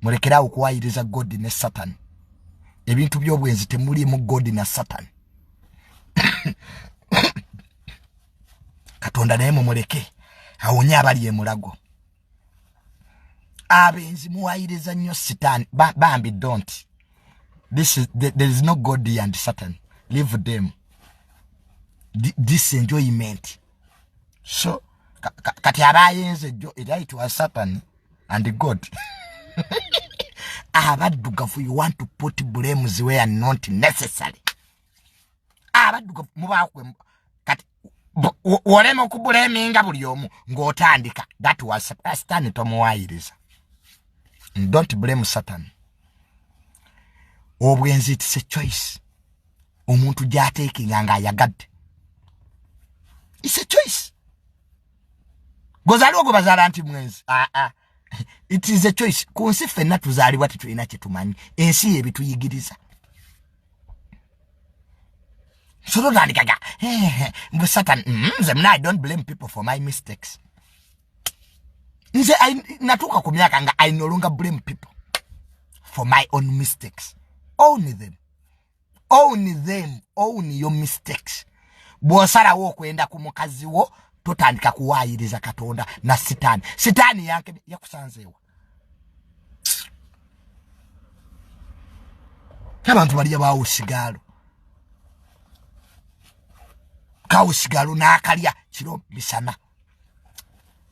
mulekere awo okuwayiriza god ne satan ebintu by'obwenzi temulimu god na satan katonda naye mumuleke awonye abali emulago abenzi muwayiriza nnyo sitaani bambi don't this is, there is no god and satan leave them this enjoyment so kati aba ayenze jjo era it was satan and god abaddugavu you want to put blames where are not necessary abaddugavu mubakwe kati wolema okubuleminga buli omu ng'otandika that was satan tomuwayiriza don't blame satan obwenzi it's a choice omuntu gyateekinga nga ayagadde is a choice gwezaliwo gwe bazaala nti mwenzi aa ah, ah. it is a choice ku nsi ffenna tuzaalibwa tetulina kyetumanyi ensi yebituyigiriza solotandikaga mbu satan mm, nze mna i don't blame people for my mistakes nze natuuka ku myaka nga i nolonga blame people for my own mistakes only them own them own your mistakes bwosalawo okwenda ku mukazi wo totandika kuwaayiriza katonda na sitaani sitaani yanke yakusanzeewa abantu balya baawo sigaalo kawo sigaalo n'akalya kiro misana